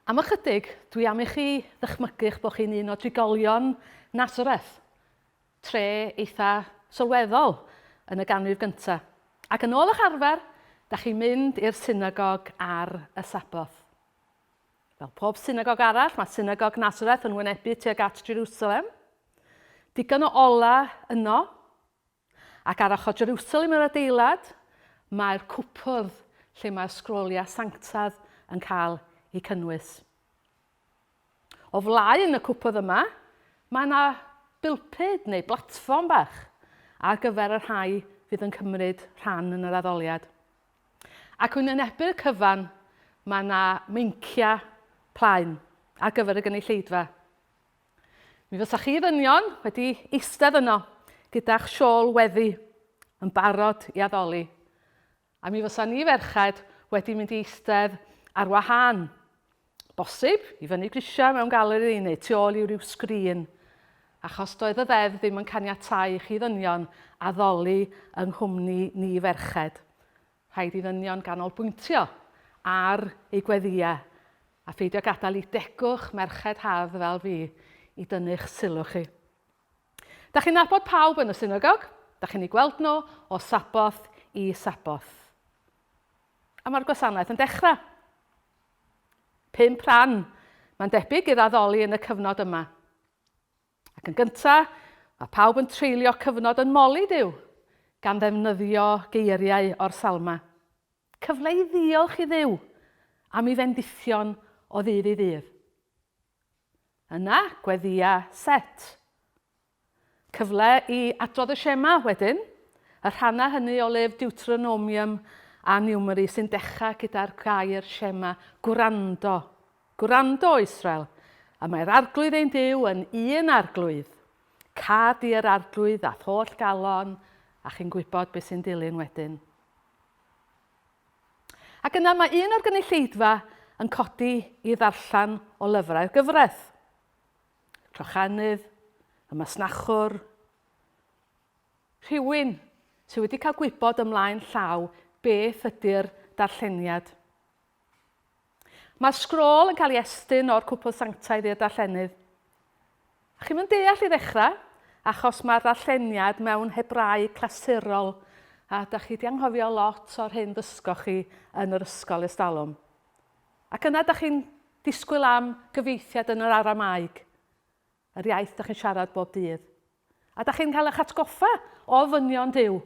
Am ychydig, dwi am i chi ddychmygu eich bod chi'n un o drigolion Nazareth, tre eitha sylweddol yn y ganrif gynta. Ac yn ôl eich arfer, da chi'n mynd i'r synagog ar y Sabboth. Fel pob synagog arall, mae synagog Nazareth yn wynebu tuag at Jerusalem. Digon o olau yno. Ac ar ochr Jerwsalem yr adeilad, mae'r cwpwrdd lle mae'r sgroliau sanctaidd yn cael eu cynnwys. O flaen y cwpwrdd yma, mae yna bilpud neu blatfform bach ar gyfer y rhai fydd yn cymryd rhan yn yr addoliad. Ac yn wynebu'r cyfan, mae yna meinciau plaen ar gyfer y gynulleidfa. Mi fysa chi ddynion wedi eistedd yno gyda'ch siôl weddi yn barod i addoli, a mi fysa ni ferched wedi mynd i eistedd ar wahân, bosib, i fyny grisiau mewn galeri neu tu ôl i ryw sgrin, achos doedd y ddeddf ddim yn caniatáu i chi ddynion addoli yng nghwmni ni ferched. Rhaid i ddynion ganolbwyntio ar eu gweddïau a pheidio gadael i degwch merched hardd fel fi i dynnu'ch sylw chi. Da chi'n nabod pawb yn y synagog, da chi'n eu gweld nhw o Sabboth i Sabboth. A mae'r gwasanaeth yn dechrau. Pump rhan, mae'n debyg, i'r addoli yn y cyfnod yma. Ac yn gyntaf, mae pawb yn treulio cyfnod yn moli Duw, gan ddefnyddio geiriau o'r Salma. Cyfle i ddiolch i Dduw am ei fendithion o ddydd i ddydd. Yna, gweddïa set. Cyfle i adrodd y Shema wedyn, y rhannau hynny o lyfr Deuteronomium a Niwmeri sy'n dechrau gyda'r gair Shema, gwrando, Gwrando, O Israel, a mae'r Arglwydd ein Duw yn un Arglwydd. Cad i'r Arglwydd a'th holl galon, a chi'n gwybod beth sy'n dilyn wedyn. Ac yna mae un o'r gynulleidfa yn codi i ddarllen o lyfrau'r gyfraith. Crochennydd, y masnachwr, rhywun sydd wedi cael gwybod ymlaen llaw beth ydy'r darlleniad. Mae'r sgrôl yn cael ei estyn o'r cwpl sanctaidd i'r darllenydd. A chi'm yn deall i ddechrau, achos mae'r ddarlleniad mewn Hebraeg clasurol, a da chi 'di anghofio lot o'r hyn ddysgoch chi yn yr ysgol ers talwm. Ac yna da chi'n disgwyl am gyfieithiad yn yr Aramaeg. Yr iaith dach chi'n siarad bob dydd. A dach chi'n cael eich atgoffa o ofynion Duw.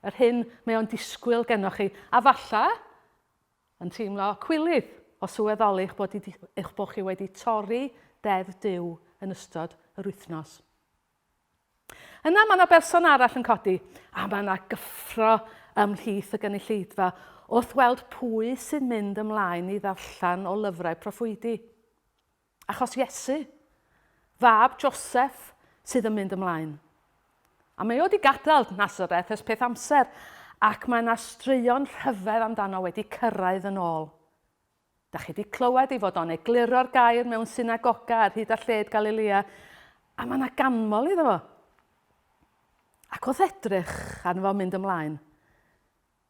Yr hyn mae o'n disgwyl genoch chi. A falla, yn teimlo cwilydd o sylweddoli eich bod, eich bod chi wedi torri Deddf Duw yn ystod yr wythnos. Yna mae yna berson arall yn codi, a mae yna gyffro ymhlith y gynulleidfa wrth weld pwy sy'n mynd ymlaen i ddarllen o lyfrau proffwydi. Achos Iesu, fab Joseff, sydd yn mynd ymlaen. A mae o wedi gadael Nazareth ers peth amser, ac mae yna straeon rhyfedd amdano wedi cyrraedd yn ôl. Da chi wedi clywed ei fod o'n egluro'r gair mewn synagoga ar hyd a lled Galilea, a mae yna ganmol iddo fo. Ac wrth edrych arno fo mynd ymlaen,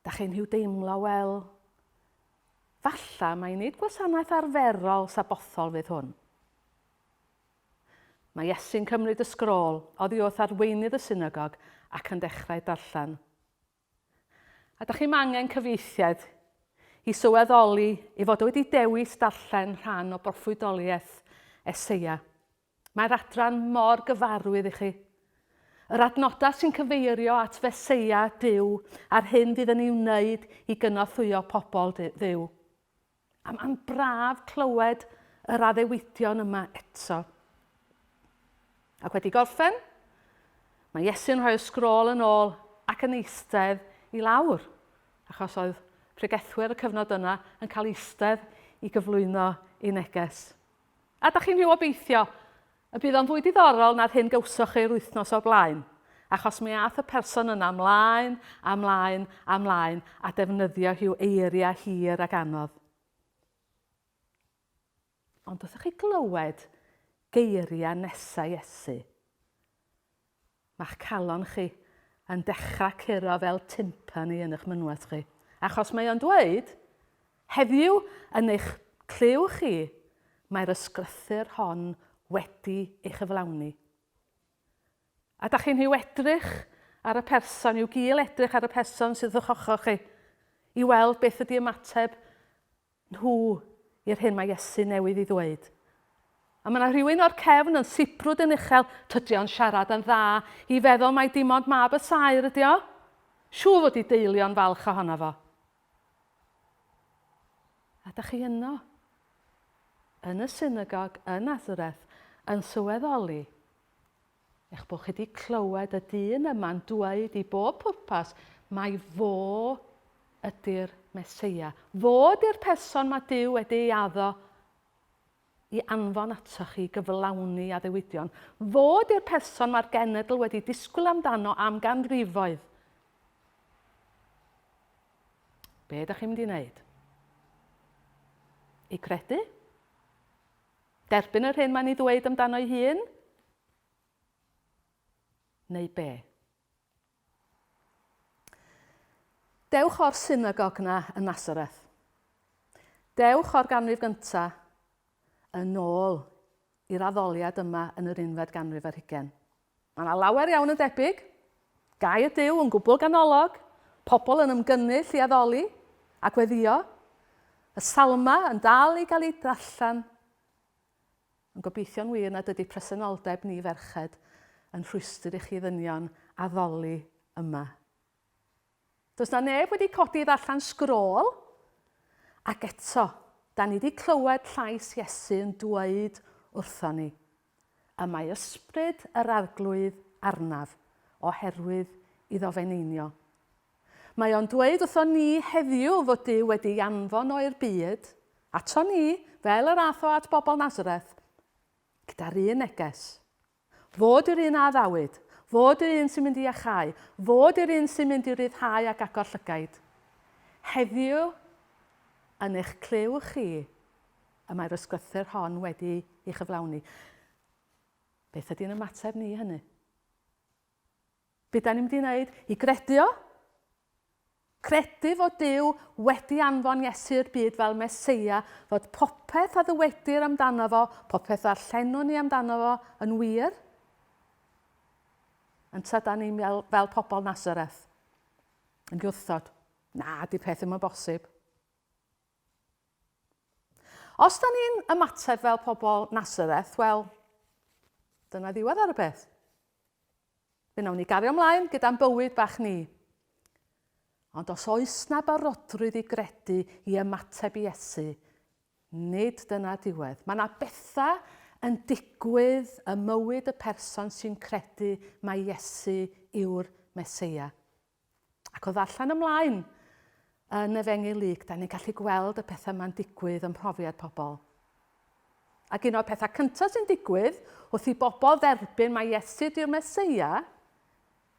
Da chi nhw deimlo wel falla mai nid gwasanaeth arferol sabothol fydd hwn. Mae Iesu'n cymryd y sgrôl oddi wrth arweinydd y synagog ac yn dechrau darllen. A da chi'n angen cyfieithiad i sylweddoli ei fod wedi dewis darllen rhan o broffwydoliaeth Eseia. Mae'r adran mor gyfarwydd i chi. Yr adnodau sy'n cyfeirio at Feseia Duw a'r hyn fydd yn ei wneud i gynorthwyo pobl Dduw. A mae'n braf clywed yr addewidion yma eto. Ac wedi gorffen, mae Iesu'n rhoi'r sgrôl yn ôl ac yn eistedd i lawr, achos oedd pregethwyr y cyfnod yna yn cael eistedd i gyflwyno ei neges. A dach chi'n rhyw obeithio y bydd o'n fwy diddorol na'r hyn gawsoch chi yr wythnos o'r blaen? Achos mi ath y person yna mlaen a mlaen a mlaen a defnyddio rhyw eiriau hir ac anodd. Ond wrthoch chi glywed geiriau nesau Iesu? Mae'ch calon chi yn dechrau curo fel timpani yn 'ych mynwes chi, achos mae o'n dweud, heddiw, yn eich clyw chi, mae'r ysgrythyr hon wedi ei chyflawni. A da chi'n hiw edrych ar y person, i'w gil edrych ar y person sydd o'ch ochr chi, i weld beth ydi ymateb nhw i'r hyn mae Iesu newydd ei ddweud. A mae yna rhywun o'r cefn yn sibrwd yn uchel, tydi o'n siarad yn dda i feddwl mai dim ond mab y saer ydi o? Siŵr fod ei deulu o'n falch ohono fo. A da chi yno, yn y synagog yn Nazareth, yn sylweddoli Eich bod chi wedi clywed y dyn yma'n dweud i bob pwrpas mai fo ydy'r Meseia. Fo ydy'r person mae Duw wedi ei addo i anfon atoch chi i gyflawni addewidion. Fo ydy'r person mae'r genedl wedi disgwyl amdano am ganrifoedd. Be ydych chi'n mynd i wneud? I credu? Derbyn yr hyn mae'n ei ddweud amdano'i hun? Neu be? Dewch o'r synagog na yn Nazareth. Dewch o'r ganrif gynta yn ôl i'r addoliad yma yn yr unfed ganrif ar hugen. Mae yna lawer iawn yn debyg. Gai y Duw yn gwbl ganolog, pobl yn ymgynnull i addoli a gweddio, y Salmau yn dal i gael eu darllen, ond gobeithio'n wir nad ydy presenoldeb ni ferched yn rhwystr i chi ddynion addoli yma. Does na neb wedi codi i ddarllen sgrôl, ac eto, da ni di clywed llais Iesu yn dweud wrthon ni, y mae ysbryd yr Arglwydd arnaf, oherwydd iddo feneinio. Mae o'n dweud wrthon ni heddiw fod Duw wedi ei anfon o i'r byd, ato ni, fel yr ath o at bobl Nazareth, gyda'r un neges. Fod yr un a addawyd. Fod yr un sy'n mynd i iachau. Fod yr un sy'n mynd i ryddhau ac agor llygaid. Heddiw, yn eich clyw chi, y mae'r ysgrythur hon wedi'i chyflawni. Beth ydy'n ymateb ni i hynny? Be da ni'n mynd i wneud? I gredu o? Credu fod Duw wedi anfon Iesu i'r byd fel Meseia, fod popeth a ddywedir amdano fo, popeth ddarllenwn ni amdano fo, yn wir? Yn tra da ni'n fel, fel pobl Nazareth, yn gwrthod, na, di peth ddim yn bosib. Os da ni'n ymateb fel pobl Nazareth, wel, dyna ddiwedd ar y peth. Fe wnawn ni gario ymlaen gyda'n bywyd bach ni. Ond os oes na barodrwydd i gredu i ymateb i Iesu, nid dyna diwedd. Mae yna bethau yn digwydd ym mywyd y person sy'n credu mai Iesu yw'r Meseia. Ac o ddarllen ymlaen yn Efengyl Luc, da ni'n gallu gweld y pethau yma'n digwydd ym mhrofiad pobl. Ac un o'r pethau cyntaf sy'n digwydd wrth i bobl dderbyn mae Iesu di'r Meseia,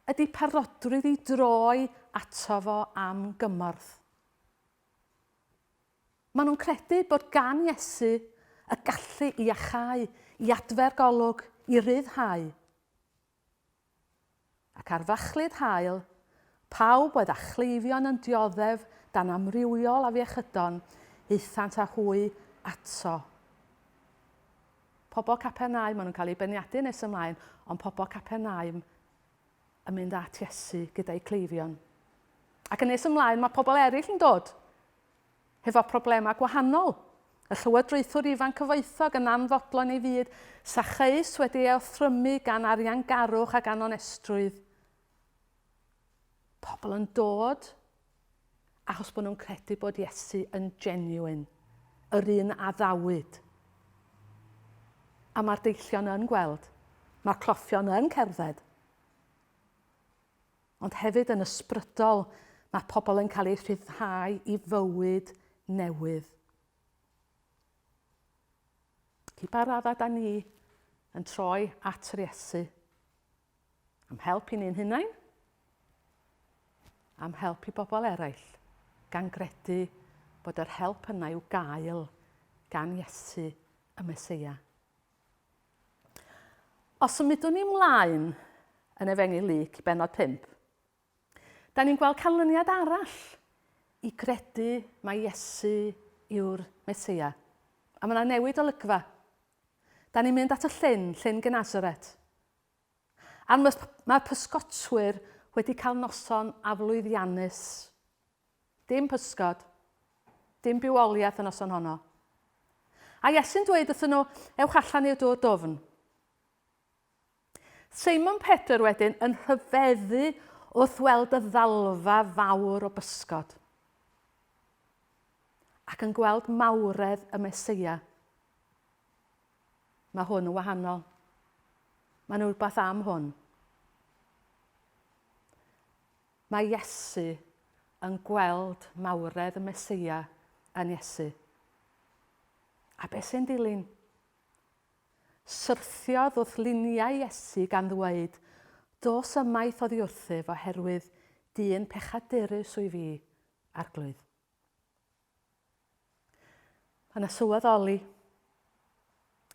ydy parodrwydd i droi ato fo am gymorth. Maen nhw'n credu bod gan Iesu y gallu i achau, i adfer golwg, i ryddhau. Ac ar fachlud haul, pawb oedd â chleifion yn dioddef dan amrywiol afiechydon, aethant â hwy ato. Pobl Capernaum, maen nhw'n cael eu beirniadu nes ymlaen, ond pobl Capernaum yn mynd at Iesu gyda'u cleifion. Ac yn nes ymlaen, mae pobl eraill yn dod. hefo problemau gwahanol. Y llywodraethwr ifanc cyfoethog yn anfodlon ei fyd, Sacheus wedi ei othrymu gan ariangarwch ac anonestrwydd. Pobl yn dod achos bod nhw'n credu bod Iesu yn genuine, yr un a ddawyd. A mae'r deillion yn gweld, mae'r cloffion yn cerdded. ond hefyd yn ysbrydol, mae pobl yn cael eu rhyddhau i fywyd newydd. Felly pa raddau da ni yn troi at yr Iesu? Am help i ni'n hunain? Am help i bobl eraill? Gan gredu bod yr help yna i'w gael gan Iesu y Mesoea. Os symudwn ni mlaen yn Efengyl Luc i bennod 5, da ni'n gweld canlyniad arall i gredu mae Iesu yw'r Meseia. A mae yna newid olygfa. Da ni'n mynd at y llyn, llyn Genasaret. A'r mae pysgotwyr wedi cael noson aflwyddiannus. Dim pysgod. Dim bywoliaeth y noson honno. A Iesu'n dweud wrthyn nhw, Ewch allan i'r dŵr dwfn. Simon Pedr wedyn yn rhyfeddu wrth weld y ddalfa fawr o bysgod ac yn gweld mawredd y Mesoea. Mae hwn yn wahanol. Mae'n rhywbeth am hwn. Mae Iesu yn gweld mawredd y Meseia yn Iesu. A beth sy'n dilyn? Syrthiodd wrth luniau Iesu gan ddweud, Dos ymaith oddi wrthyf oherwydd dyn pechadurus wyf i, Arglwydd. Mae yna sylweddoli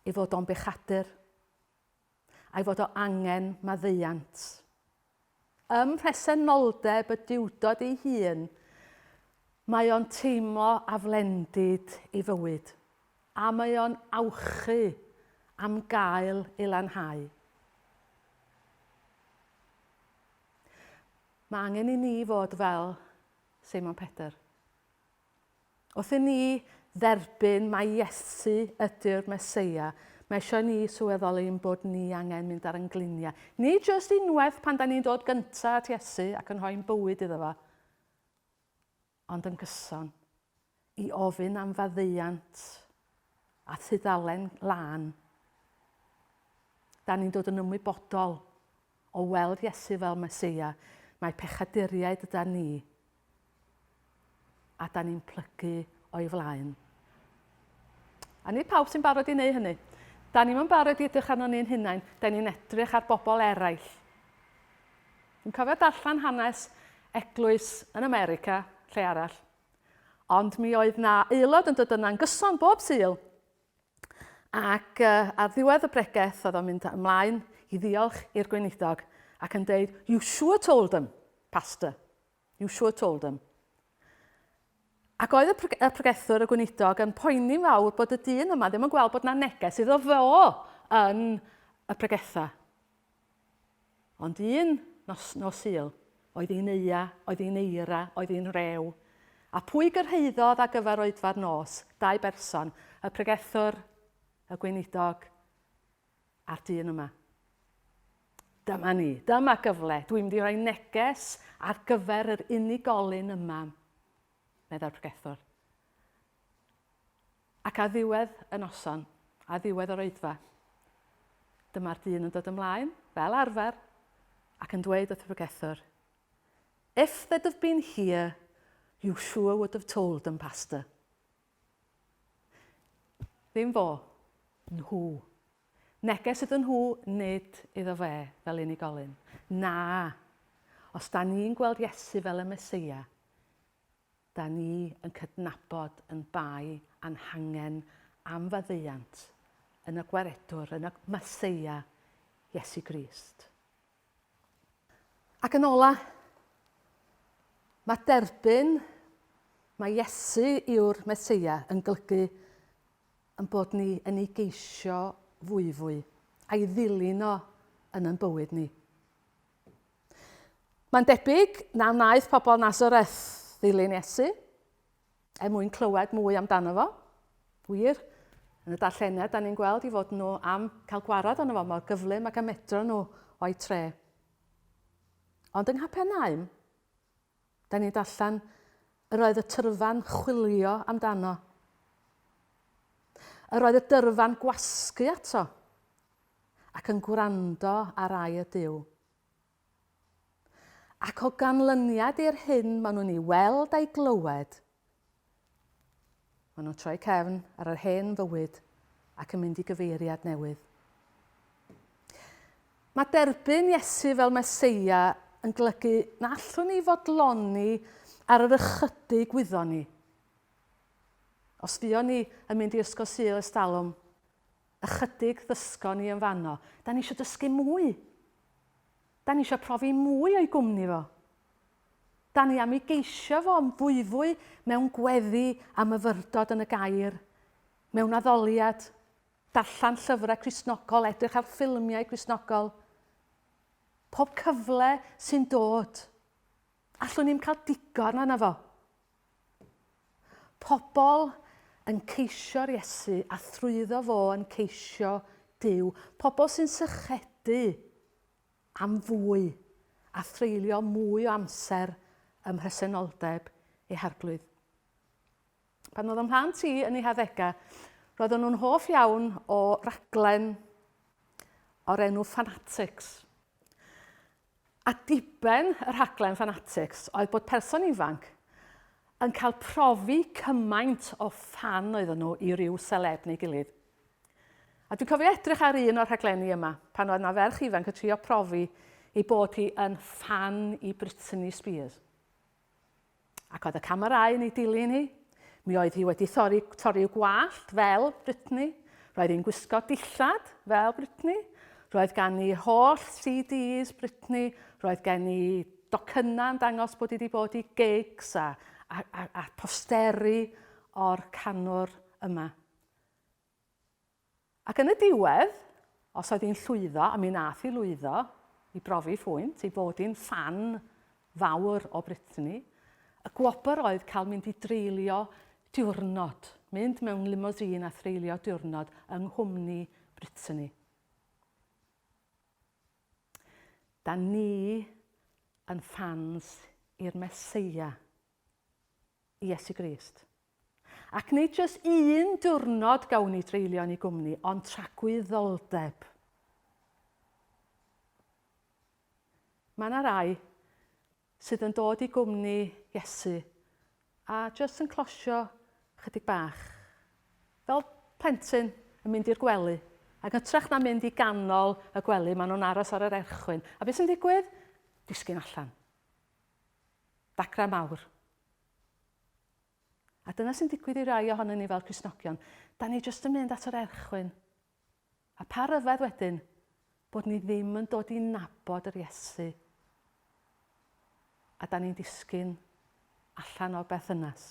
ei fod o'n bechadur a'i fod o angen maddeuant. Ym mhresenoldeb y diwdod ei hun, mae o'n teimlo aflendid ei fywyd a mae o'n awchu am gael ei lanhau. Mae angen i ni fod fel Seimon Pedr. Wrth i ni dderbyn mai Iesu ydy'r Meseia, mae eisiau ni sylweddoli ein bod ni angen mynd ar ein gliniau. Nid jyst unwaith pan da ni'n dod gyntaf at Iesu ac yn rhoi'n bywyd iddo fo, ond yn gyson, i ofyn am faddeuant a thudalen lân. Da ni'n dod yn ymwybodol O weld Iesu fel Meseia, mae pechaduriaid yda ni, a da ni'n plygu o'i flaen. A nid pawb sy'n barod i wneud hynny. Da ni'n mynd barod i edrych arno ni'n hunain, da ni'n edrych ar bobl eraill. Dwi'n cofio darllen hanes eglwys yn America, lle arall. Ond mi oedd na aelod yn dod yna'n gyson bob syl. Ac uh, ar ddiwedd y bregeth oedd o'n mynd ymlaen i ddiolch i'r gweinidog ac yn deud, you sure told them, pastor, you sure told them. Ac oedd y, pre y pregethwr, y gweinidog, yn poeni fawr bod y dyn yma ddim yn gweld bod na neges iddo fo yn y pregethau. Ond un nos nos Sul, oedd hi'n eia, oedd hi'n eira, oedd hi'n rew. A pwy gyrhaeddodd â gyfer oedfa'r nos? Dau berson, y pregethwr, y gweinidog, a'r dyn yma. Dyma ni, dyma gyfle, dwi'n mynd i roi neges ar gyfer yr unigolyn yma, meddai'r pregethwr. Ac ar ddiwedd y noson, ar ddiwedd yr oedfa, dyma'r dyn yn dod ymlaen, fel arfer, ac yn dweud wrth y pregethwr, If they'd have been here, you sure would have told them, Pastor. Ddim fo, nhw. Neges iddyn nhw, nid iddo fe, fel unigolyn. Na, os da ni'n gweld Iesu fel y Meseia, Da ni yn cydnabod yn bai a'n hangen am faddeuant yn y Gwaredwr, yn y Masseia, Iesu Grist. Ac yn ola, mae derbyn mae Iesu yw'r Messeia yn golygu yn bod ni yn ei geisio fwyfwy, a'i ddilyn o yn yn bywyd ni. Mae'n debyg na wnaeth pobl Nazareth ddilyn Iesu er mwyn clywed mwy amdano fo. Wir, yn y darlleniad, da ni'n gweld i fod nhw am cael gwarad arno fo mor gyflym ac a medro nhw o'i tre. Ond yng Nghapernaum, Da ni'n darllen, Yr oedd y tyrfa'n chwilio amdano. Yr oedd y dyrfa'n gwasgu ato ac yn gwrando ar ai y Dyw. Ac o ganlyniad i'r hyn maen nhw'n ei weld a'i glywed, Maen nhw'n troi cefn ar yr hen fywyd ac yn mynd i gyfeiriad newydd. Mae derbyn Iesu fel Meseia yn glygu na allwn ni fodloni ar yr ychydig wyddon ni. Os fuon ni yn mynd i Ysgol Sul Estalwm, ychydig ddysgon ni yn fanno. Da ni eisiau dysgu mwy. Da ni eisiau profi mwy o'i gwmni fo. Da ni am i geisio fo am fwyfwy mewn gweddi a myfyrdod yn y gair, mewn addoliad, darllen llyfrau Cristnogol, edrych ar ffilmiau Cristnogol. Pob cyfle sy'n dod. Allwn ni'm cael digon yna fo. Pobl yn ceisio'r Iesu a thrwyddo fo yn ceisio Dyw. Pobl sy'n sychedu am fwy a threulio mwy o amser ym mhresenoldeb eu harglwydd. Pan oedd ym mhlant i yn ei haddegau, roedden nhw'n hoff iawn o raglen o'r enw Fanatics. A diben y rhaglen Fanatics oedd bod person ifanc yn cael profi cymaint o ffan oedden nhw i ryw seleb neu gilydd. A dwi'n cofio edrych ar un o'r rhaglenni yma, pan oedd 'na ferch ifanc yn trio profi ei bod hi yn ffan i Brittany Spears. Ac oedd y camerâu yn ei dilyn hi. Mi oedd hi wedi thori, torri i'w gwallt fel Brittany. Roedd hi'n gwisgo dillad fel Brittany. Roedd gan i holl CDs Brittany. Roedd gen i docynnau yn dangos bod hi wedi bod i gigs a, a, a, a posteri o'r canwr yma. Ac yn y diwedd, os oedd hi'n llwyddo, a mi nath hi lwyddo i brofi phwynt ei bod hi'n ffan fawr o Britney, y gwobr oedd cael mynd i dreulio diwrnod, mynd mewn limousine a threulio diwrnod yng nghwmni Britney. Da ni yn ffans i'r Meseia. i Iesu Grist. Ac nid jyst un diwrnod gawn ni dreulio yn ei gwmni, ond tragwyddoldeb. Mae yna rai sydd yn dod i gwmni Iesu a jyst yn closio chydig bach. Fel plentyn yn mynd i'r gwely, ac yn trach na mynd i ganol y gwely, maen nhw'n aros ar yr erchwyn. A beth sy'n digwydd? Disgyn allan. Dacra mawr. A dyna sy'n digwydd i rai ohonyn ni fel Cristnogion. Da ni jyst yn mynd at yr erchwyn. A pa ryfedd wedyn bod ni ddim yn dod i nabod yr Iesu. A da ni'n disgyn allan o'r berthynas.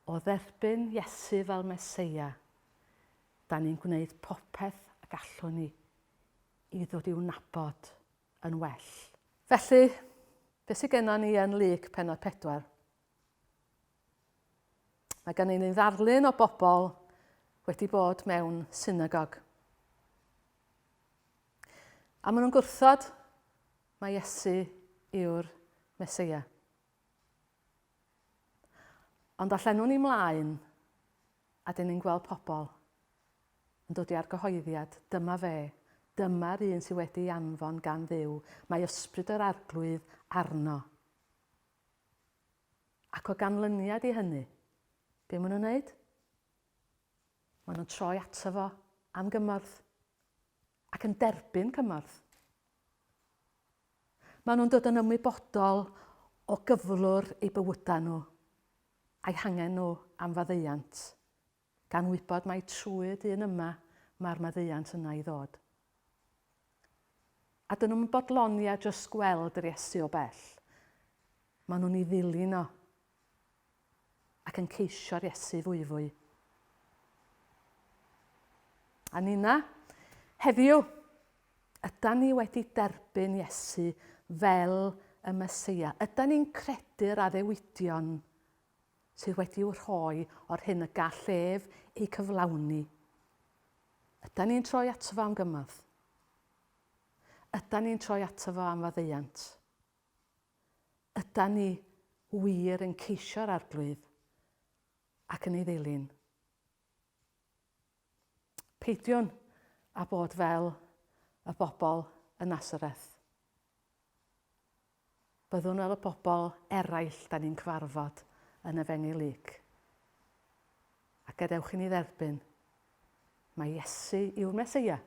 O dderbyn Iesu fel Meseia, da ni'n gwneud popeth y gallwn ni i ddod i'w nabod yn well. Felly, beth sydd gennym ni yn Luc penod 4? Mae gennym ni ddarlun o bobl wedi bod mewn synagog. A maen nhw'n gwrthod mae Iesu yw'r Mesoea. Ond allan nhw'n ni mlaen a dyn ni'n gweld pobl Yn dod i argyhoeddiad, dyma fe, dyma'r un sydd wedi ei anfon gan Dduw, mae Ysbryd yr Arglwydd arno. Ac o ganlyniad i hynny, be maen nhw'n wneud? Maen nhw'n troi ato fo am gymorth ac yn derbyn cymorth. Maen nhw'n dod yn ymwybodol o gyflwr ei bywydau nhw, a'i hangen nhw am faddeuant. Gan wybod mai trwy dyn yma mae'r maddeuant yna i ddod. A dyn nhw'm yn bodloni a jyst gweld yr Iesu o bell. Mae nhw'n ei ddilyn o. Ac yn ceisio'r Iesu fwyfwy. A Nina, heddiw, yda ni wedi derbyn Iesu fel y Mesoea? Yda ni'n credu'r addewidion sydd wedi'u rhoi o'r hyn y gall ef eu cyflawni. Ydan ni'n troi ato fo am gymorth? Ydan ni'n troi ato fo am faddeuant? Ydan ni wir yn ceisio'r Arglwydd ac yn ei ddilyn? Peidiwn â bod fel y bobl yn Nasareth. Byddwn fel y bobl eraill da ni'n cyfarfod yn y fenni Luc. A gadewch i ni dderbyn, mae Iesu yw'r Meseia.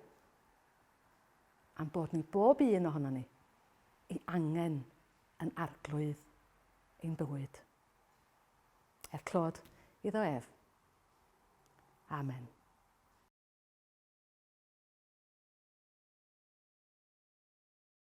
Am bod ni bob un ohono ni, i angen yn arglwydd ein bywyd. Er clod iddo ef, Amen.